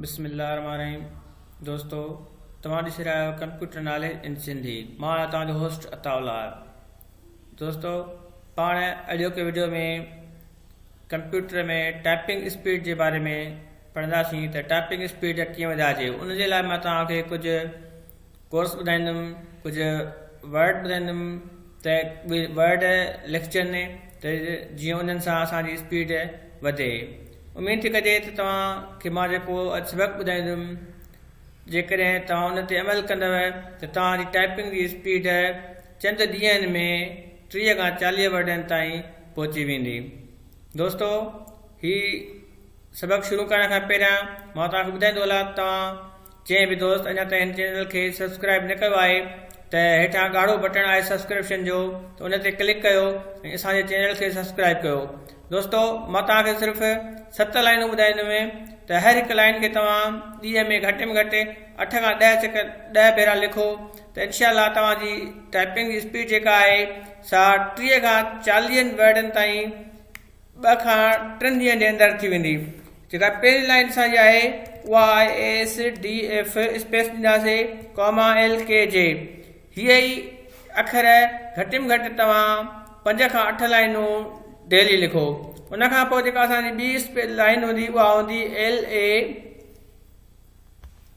بسم الله الرحمن الرحيم دوستو توهان ڏسي رهيا آهيو ڪمپيوٽر ناليج ان سنڌي مان آهيان توهان جو هوسٽ عطا الله دوستو پاڻ اڄوڪي ويڊيو ۾ ڪمپيوٽر ۾ ٽائپنگ اسپيڊ جي باري ۾ پڙهنداسين ته ٽائپنگ اسپيڊ ڪيئن وڌائجي ان جي لاء مان توهان کي ڪجهه ڪورس ٻڌائيندم ڪجهه ورڊ ٻڌائيندم ته ورڊ لکجن ته جيئن انهن سان اسان جي اسپيڊ وڌي اميد ٿي ڪجي ته توهان کي مان جيڪو اڄ سبق ٻڌائيندم جيڪڏهن توهان ان تي عمل ڪندو ته توهان جي ٽائپنگ جي اسپيڊ چند ڏينهن ۾ ٽيهه کان چاليهه ورڊن تائين پهچي ويندي دوستو هي سبق شروع ڪرڻ کان پهريان مان توهان کي ٻڌائيندو هلان توهان جنهن به دوست اڃا تائين هن چينل کي سبسڪرائب نه ڪيو آهي ته هيٺان ڳاڙهو بٽڻ آهي سبسڪرپشن جو ته ان تي ڪلڪ ڪيو ۽ اسان جي چينل کي سبسڪرائب ڪيو دوستو مان توهان کي صرف ست لائنون ٻڌائيندم ته هر هڪ لائن کي توهان ڏينهن ۾ گهٽ ۾ گهٽ اٺ کان ڏهه چڪ ڏهه ڀيرا لکو ته انشاء الله توهان جي ٽائپنگ جي اسپيڊ جيڪا آهي سا ٽيهه کان چاليهن ورڊن تائين ٻه کان ٽن ڏينهن جي اندر ٿي ويندي جيڪا پهرين لائين اسان جي آهي اها آهي A S D F space ڏينداسي comma L K J H ئي اکر گهٽ ۾ گهٽ توهان پنج کان اٺ لائنون ڊيلي لکو ان کان پوء جيڪا اسان جي ٻي اسپيس لائين هوندي اها هوندي ايل اي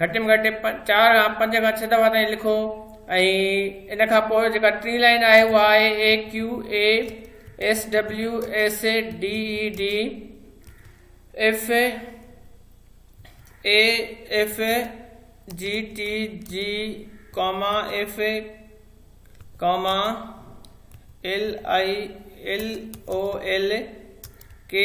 گهٽ ۾ گهٽ چار کان پنج کان ڇهه دفعا تائين لکو ۽ ان کان پوء جيڪا ٽين لائين آهي اها آهي AQASWAFAFGTGCOMMAFALILOLKA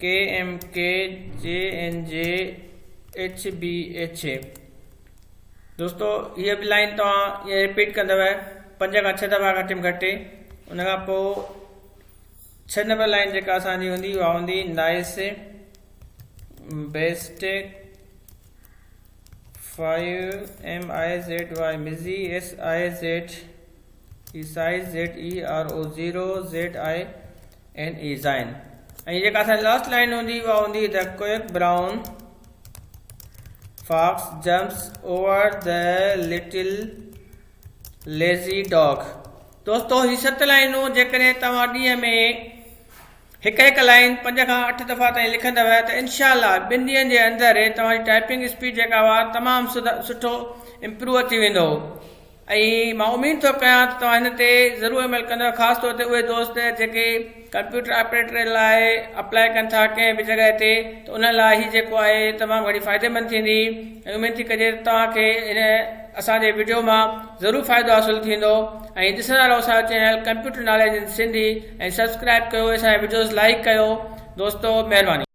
K M K, J N J, H B H A. دوستو هيء به لائين توهان ائين رپيٽ ڪندؤ پنج کان ڇهه دفعا گهٽ ۾ گهٽ ان کان پوء ڇهه نمبر لائين جيڪا اسان جي هوندي اها هوندي nice best five M I Z Y مزي S I Z A size Z A R O zero Z I N A زائن ۽ جيڪا اسان جي لاسٽ لائن هوندي اها هوندي the quick brown fox jumps over the little lazy dog دوستو هي ست لائنون جيڪڏهن توهان ڏينهن ۾ هڪ هڪ لائن پنج کان اٺ دفعا تائين لکندو ته انشاء الله ٻن ڏينهن جي اندر توهان جي ٽائپنگ اسپيڊ جيڪا هئا تمام سٺو امپروو ٿي ويندو ۽ مان اميد ٿو ڪيان ته توهان هن تي ضرور عمل ڪندؤ خاص طور تي اهي دوست جيڪي ڪمپيوٽر آپريٽر لاء اپلائي ڪن ٿا ڪنهن به جڳهه تي ته انهن لاء هي جيڪو آهي تمام گهڻي فائديمند ٿيندي ۽ اميد ٿي ڪجي ته توهان کي هن اسان جي وڊيو مان ضرور فائدو حاصل ٿيندو ۽ ڏسندا رهو اسان جو channel computer knowledge in Sindhi ۽ subscribe ڪيو اسان جا وڊيوز لائڪ ڪيو دوستو مهرباني.